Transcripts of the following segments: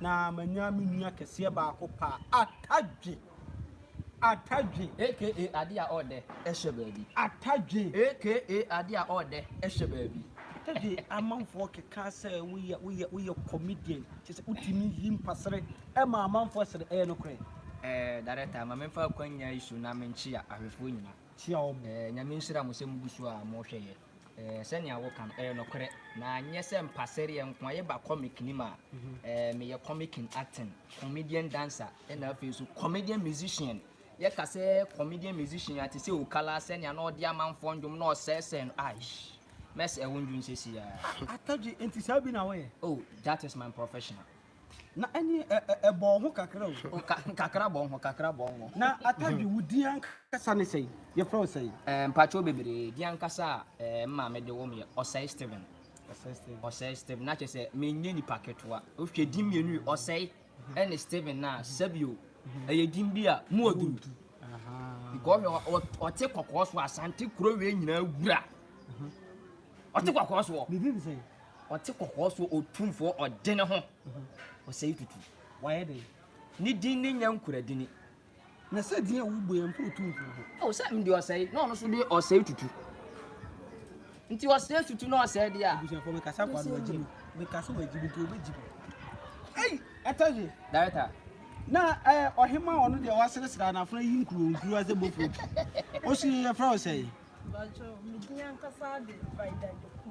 na manya me nua kɛseɛ baako paa, Atadwe. Atadwe. Aka adeɛ a ɔɔdɛ ɛhyɛ baabi. Atadwe. Aka adeɛ a ɔɔdɛ ɛhyɛ baabi. Atadwe amanfoɔ keka sɛ woyɛ woyɛ woyɛ comedian kyɛ sɛ wotumi yi mpasere ɛma amanfoɔ sere ɛyɛ nokorɛ. Ɛɛ director ma memfa akwanya yi so na menkyea ahwɛfoɔ nyina. Kyea wɔn. Ɛɛ nyame nhyira mo sɛ mogu so a mohwɛ yɛ. Ɛɛ, sɛnea woka no, ɛyɛ nokorɛ. Na nyɛ sɛ mpasereɛ nko ara. Yɛba comic no mu a, ɛɛ, meyɛ comic in acting, comedian dancer, ɛna afei nso comedian musician. Yɛka sɛ comedian musician a, te sɛ Okala, sɛnea na ɔde amanfoɔ nnwom na ɔsɛesɛe no, aish, mɛsɛe wo nnwom seesei ara. Atadwe, enti saa bi na woyɛ? Oh, that is my professional. Na ɛne ɛ-ɛ-ɛ bɔɔ ho kakra o. O ka kakra bɔɔ ho, kakra bɔɔ ho. Na Atadwe, wo din ankasa ne sɛn? Yɛfrɛ wo sɛn? Ɛɛ, mpakyɛw bebree. Din ankasa a ɛɛ me maame de woo me yɛ Ɔsɛe Stephen. Ɔsɛe Stephen. Ɔsɛe Stephen. Na kyerɛ sɛ menyɛ nipa ketewa. Wohwɛ din mmienu yi, Ɔsɛe ɛne Stephen no a, sɛbio ɛyɛ din bi a mu wɔ duru. Because ɔhwɛ ɔ- ɔ- ɔte kɔkɔɔ so a, Asante kuro wei nyinaa wura. Ɔte kɔkɔɔ soɔ. Ne din ne sɛn? Ɔte kɔkɔɔ soɔ otumfoɔ ɔde ne ho ɔsɛe tutu. Wayɛ dɛn? Ne din ne Nyankuradini. Na sɛ din a wobɔ yɛ mpo otumfoɔ ho. O sɛ mede ɔsɛe na ɔno nso de ɔsɛe tutu. Nti ɔsɛe tutu na ɔsɛe deɛ a. Abusuafoɔ mekasa akɔ ano agyi mu. Mekasa wɔ agyi mu nti wɔbɛgyi mu. Ei ɛtɔ ye. Director. Na eh, ɔhema ɔno deɛ waseresere a n'afena yi nkuro nkuro a sɛ bofuro bi. Ɔsi yɛfrɛ wo sɛn? Mpakyɛw, me din ankasa de Vida Doku.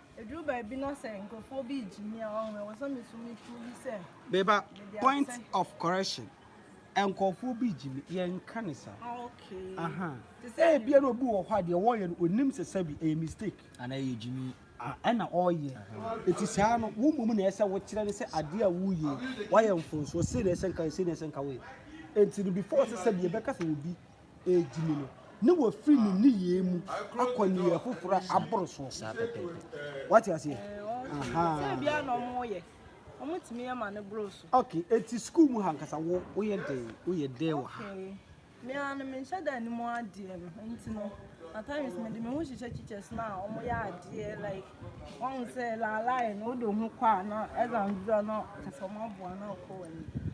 Eduru baabi na sɛ nkurɔfoɔ bi regye me a, ɔho ɛwɔ sɛ me so me prove sɛ me ba point of correction nkurɔfoɔ bi regye me yɛn nka ne saa. Ah, okay. Aha. Te sɛ. Ebi na obi wɔ hɔ a deɛ wɔyɛ no onim sɛ sɛbi ɛyɛ mistake. Ana ɛyɛ gyimi. Ɛna ɔyɛ. Eti saa no wo mmom na ɛsɛ wokyerɛ ne sɛ adeɛ a woyɛ wayɛ mfonsoɔ sei na ɛsɛ nka yɛ sei na ɛsɛ nka woyɛ. Eti no before sɛ sɛbi yɛbɛka sɛ obi. redi no, na wafiri ne nneyɛɛ mu akɔ nneyɛɛ foforɔ a aboro soɔ saa pɛpɛɛpɛ. Wate aseɛ? Aha. Sɛ bia na ɔmo yɛ, ɔmo tumi yɛ ma ne boro so. Okay, eti sukuu mu ha nkasa wo woyɛ dɛn? Woyɛ dɛn wɔ ha? Okay. Me ara no menhyɛ da anim adeɛ no nti no at times mede me ho hyehyɛ teachers no a wɔn yɛ adeɛ like wɔn sɛ laalae no wode ho kɔ a na ɛdza ndura no kasa wɔn aboa no akɔ wɔn anim.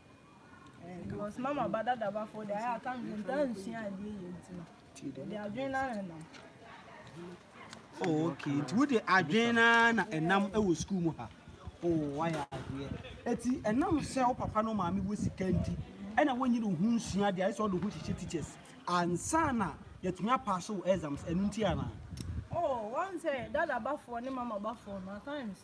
because mama ba dadabafo de ayɛ aka me ntaa nsua adeɛ yɛ nti no de adwene no ara nam oh, ok nti wode adwene no ara na ɛnam wɔ sukuu mu ha oh, wayɛ adeɛ ɛti ɛnam sɛ wo papa no maame wɔ sika nti ɛna wɔnyi ne ho nsua adeɛ ayɛ sɛ ɔde ho hyehyɛ teachers ansa na yɛtumi apa so wɔ exams ɛno nti anaa oh, wɔn sɛ dadabafoɔ ne mamabafoɔ no at times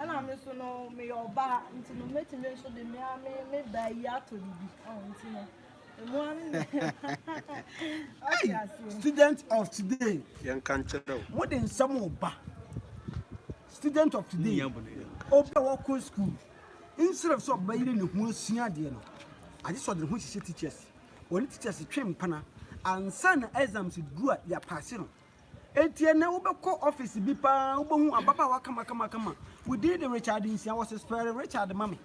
Ɛna me nso no meyɛ ɔbaa nti no mɛtumi nso de me ara me me baa yi atɔ biribi ɔho nti no ɛmu ara me ɔte aseɛ. Student of today. Yɛnka nkyerɛ wo. Mode nsɛm ɔba. Student of today. Obi a wɔkɔ school instead of sɛ ɔbɛyere ne ho asua adeɛ no agye sɛ ɔde ne ho hyehyɛ teachers wɔne teachers twe mpana ansa na exams duru a yɛapaase no Enti ɛnnɛ wobɛkɔ office bi paa wobɛhu ababaawa kamakamakama within the Richard nsia wɔse spɛre Richard ma me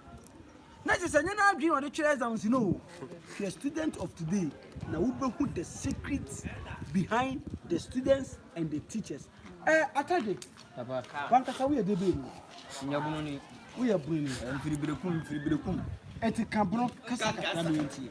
na kyerɛ sɛ nyɛ n'adwene ɔde twerɛ exams no if you are student of today na wobɛhu the secret behind the students and the teachers eh, atade wankasa woyɛ de bɛɛ mu nyɛ bunu ni woyɛ bunu ni mfiribirekum mfiribirekum ɛti ka bono kasa kakra me yɛntie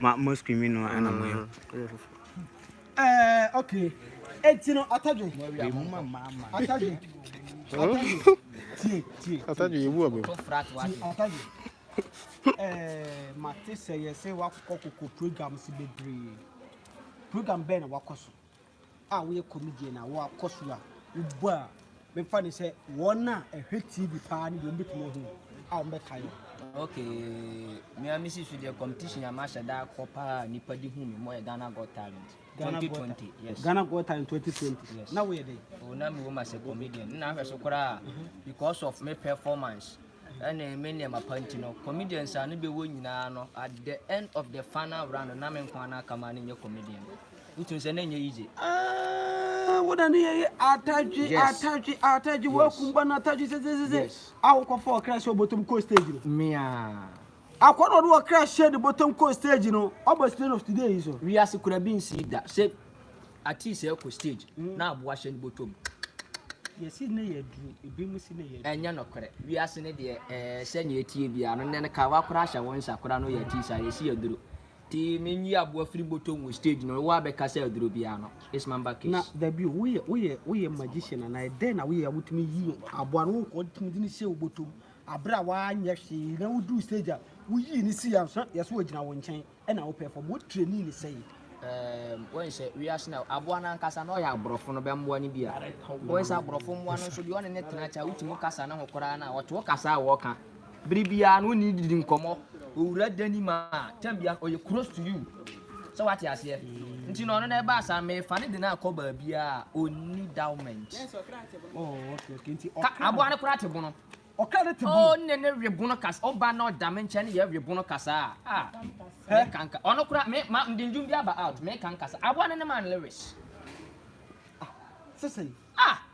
Ma mo screaming no na mo yɛ. Eh, okay. Eti no atadwe. Atadwe. Atadwe. Tie, tie. Atadwe yebu abe. Atadwe. Eh, mate sɛ yɛsɛ wakɔ koko programs bebree. Program bɛn na wakɔ so? a woyɛ comedian a wɔakɔ so a wobɔ a mefa ne sɛ wɔn a ɛhwɛ tv paa ne deɛ wɔbɛtumi ahu a wɔbɛkae wo okay me a mesi so deɛ competition a mahyɛ da akɔ paa nipa de hu me mo yɛ Ghana Got Talent 2020 yes Ghana Got Talent 2020 yes na woyɛ dɛ o na me wo ma sɛ comedian na ahwɛ so koraa mhm. because of me performance ɛne me nneɛma pa nti no comedians a ne bɛwɔ nyinaa no at the end of the final round na me nko ana kama ne nyɛ comedian Wotumi sɛ na ɛnyɛ yiye. Ah, what an yeye ataji yes. ataji ataji yes. wakumba na ataji zezezeze. Yes. Awo kwa fo kra so bottom coast stage no. Mia. Akwa no do kra share the bottom coast stage no. Obo stage of today is so. We are sekura bin si da. Se ati se ko stage mm. na abo ahye no bottom. yɛsi ne yɛ duro ebi mu si ne yɛ duro. ɛnyɛ nɔkorɛ wiase ne deɛ ɛɛ sɛ nea etie bia no nɛn ka wakora ahyɛ wɔn nsa kora no yɛ ti sa yɛsi yɛ duro. Tee me nyi aboa firi botɔm wɔ stage no woa bɛ kasa aduro biaa no it's mamba case. Na dabi o woyɛ woyɛ woyɛ magician anaa dɛn na woyɛ a wotumi yi aboa no wokɔ tumi de no hyɛ wo botɔm aberɛ a wanyɛ hwee na woduru stage a woyii no sii a sɛ yɛsɛ wɔgyina wo nkyɛn ɛna wo perform wo trainee no sɛi. Um, wɔn sɛ wiase na aboa no ankasa na ɔyɛ aborɔfo no bɛmmoa no bi a wɔn sɛ aborɔfo mmoa no nso deɛ ɔne ne tena kyɛ a wotumi kasa ne ho koraa na ɔte wo kasa a wɔka Bere biara no wone no didi nkɔmmɔ. Owura Danim a, tam biara ɔyɛ close to you. Sɛ wate aseɛ? Nti na ɔno na ɛbaa saa mefa ne de no akɔ baabiara a ɔnni dowment. Ka aboa no koraa te bono. Ɔkra ne te bono. Ɔne ne we bono kasa. Ɔba na ɔda me nkyɛn ne yɛ we bono kasa a. Ah, me kanka. Ɔno koraa, me, ma, mde ndwom bi aba out. Me kanka sa. Aboa no ne man Lewis. Ah, sɛ sɛn? Ah!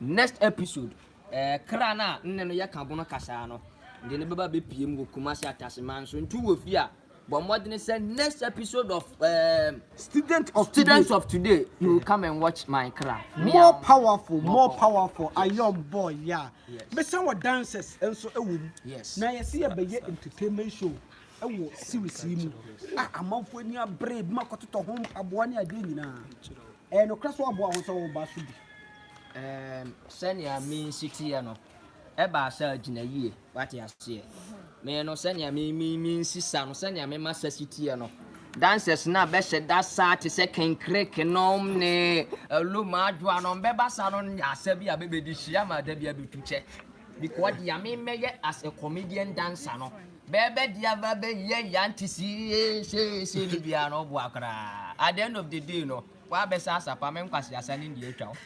Next episode eh kra no a nnɛ no yɛka bono kasaa no de no bɛba bɛpie mu wɔ Kumasi Ataseman so nti wowɔ fie a bɔ mmɔdene sɛ next episode of eh Student of today Students of today you will come and watch my kra More meow powerful More more powerful powerful yes ayɔnbɔɔ yeah yes mesan wɔ dances nso wɔ mu yes na yɛse Fa yɛbɛyɛ sika hwɛ entertainment show wɔ series yi mu a amanfoɔ ani abere ebi mo akɔtotɔ ho mpaboa ne adeɛ nyinaa. Ɛyɛ nokorɛ sɛ ɔboa wo sɛ wo ba so bi. Ɛɛm sɛnea me nsi teɛ no ɛbaa sɛ agyina yie wate aseɛ me no sɛnea me me me nsi sa no sɛnea me ma sa si teɛ no dancers no a bɛhyɛ da saa te sɛ kenkrek nom ne aluma adwoa nom bɛba sa no nyɛ asa bi a bɛbɛdi hyia ma da bi abɛtu kyɛ because deɛ me mɛyɛ as a comedian dancer no Bɛɛbɛ di aba bɛ yɛ yan te sie see see ne biara no ɔboa koraa at the end of the day no wa bɛ sa asapa me nkwaseasa ne ndi atwa wo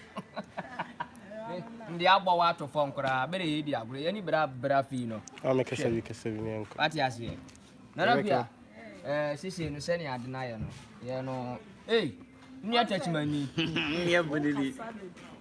ndi abɔ wo ato fam koraa bɛ de yɛ di agorɔ yɛ ni bra bra fii no a me kasa bi kasa bi ne nko wate aseɛ nana bi a ɛɛ sese no sɛ ne ade na yɛ no yɛ no ei nua tɛkyima ni yɛ bɔ ne ni